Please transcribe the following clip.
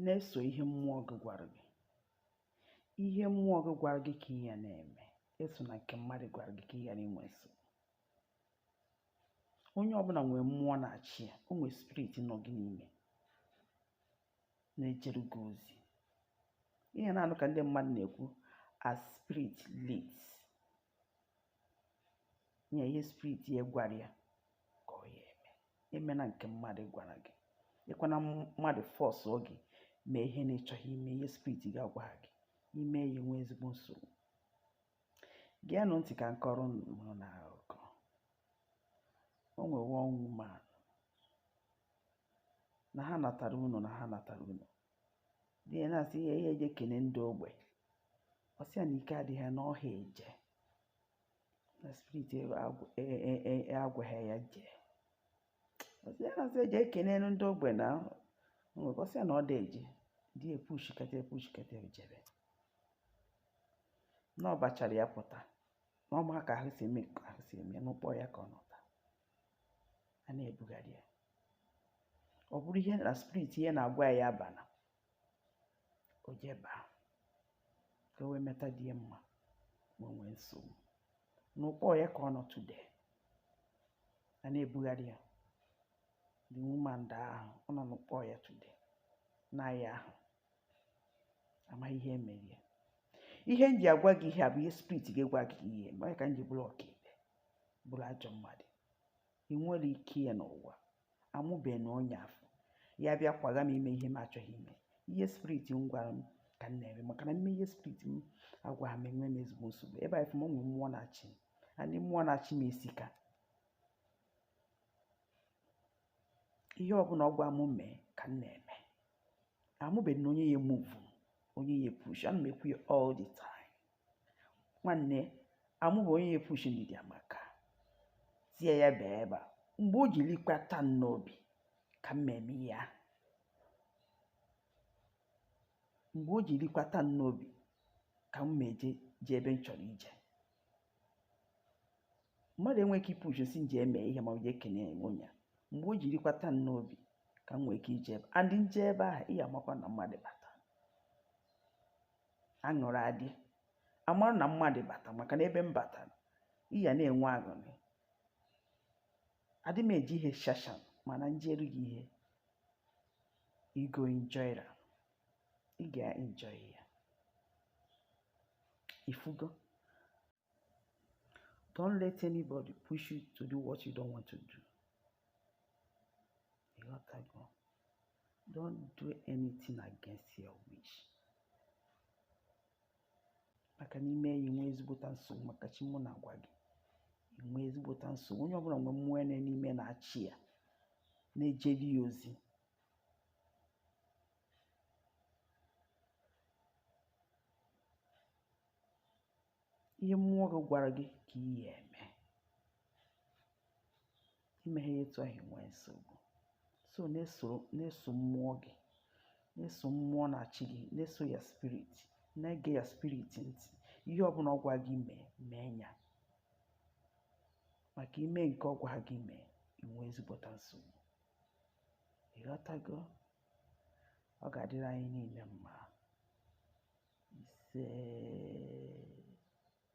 na-eso ihe mmụọ gị gwara gị ihe mmụọ gị gwara gị ka ị ya na-eme esona nke mmadụ gwara gị ka ị ghara inwe nsogbu onye ọbụla nwere mmụọ na-achị ya o nwere spirit nọ gị n'ime na-ejere gị ozi ị ya na-anụ ka ndị mmadụ na-ekwu as spirit leads nye ihe spirit ya gwara ya ka ọ ya eme emena nke mmadụ gwara gị ekwena mmadụ fọsụọ gị mee ihe na ị chọghị ime ihe spirit gị agwaghị gị ị mee ya ị nwee ezigbo nsogbu geenụ ntị ka m kọọrọ unu akụkọ o nwere one woman na ha natara ụnọ na ha natara ụnọ di ya na-asị ya jee kene ndị ogbe ọ sị ya na ike adịghị ya na ọ ha eje na spirit agwaghị ya jee ọ sị ya na-asị eje ekene ndị ogbe na ọ sị ya na ọ dị eje di ya epushikata epushikata o jebe na ọ bachara ya pụta na ọ ma ka ahụ si eme ka ahụ si eme n'ụkpọ ọya ka ọ nọ taa a na-ebugharị ya ọ bụrụ ihe na spirit ya na-agwa ya abana o jeba ka o wee meta di ya mma wee nwee nsogbu n'ụkpọ ọya ka ọ nọ today a na-ebugharị ya the woman daa ahụ ọ nọ n'ụkpọ ọya today nwaanyị ahụ amaghị ihe mere ya ihe m ji agwa gị ihe a bụ ihe spirit gị agwaghị gị ihe onye ka m ji bụrụ ọkaikpe bụrụ ajọ mmadụ ị nwere ike ya n'ụwa amụbeghị nụ onye afụ ya abịa kwaga m ime ihe m achọghị ime ihe spirit m gwara m ka m na-eme maka na m mee ihe spirit m agwaghị m enwe m ezigbo nsogbu ebe a ị fụ m nwere mmụọ na-achị m and mmụọ na-achị m esika ihe ọbụla ọ gwa m mee ka m na-eme amụbeghị na onye ya move onye ya push ana m ekwu ya all the time nwanne amụbe onye ya push ndidi amaka sị ya bịa ebe a mgbe o jiri kwata m n'obi ka m eme ya mgbe o jiri kwata m n'obi ka m eje ebe m chọrọ ije mmadụ enweghị ike ipush m sị m jee mee ihe ma ọ bụ jee kene onye ya mgbe o jiri kwata m n'obi ka m nwee ike ije ebe a and m jee ebe ahụ ị ya amakwa na mmadụ bata aṅụrị adị a mara na mmadụ bata maka na ebe m batara ị ya na-enwe aṅụrị adị m eji ihe shashan mana m jeere gị ihe you go enjoy am ị ga-enjoy ya ifugo don't let anybody push you to do what you don't want to do ịghọtago don't do anything against your wish maka n'i mee ya i nwee ezigbota nsogbu maka chi mụ na-agwa gị i nwee ezigbota nsogbu onye ọbụla nwe mmụọ ya n'ime na-achị ya na-ejere ya ozi ihe mmụọ gị gwara gị ka ị ya eme i meghị ya etu ahụ i nwee nsogbu so na-eso mmụọ gị na-eso mmụọ na-achị gị na-eso your spirit na-ege your spirit ntị ihe ọbụla ọ gwa gị mee mee ya maka i mee nke ọ gwa gị mee i nwee ezigbota nsogbu ịghọtago ọ ga-adịrị anyị niile mma ise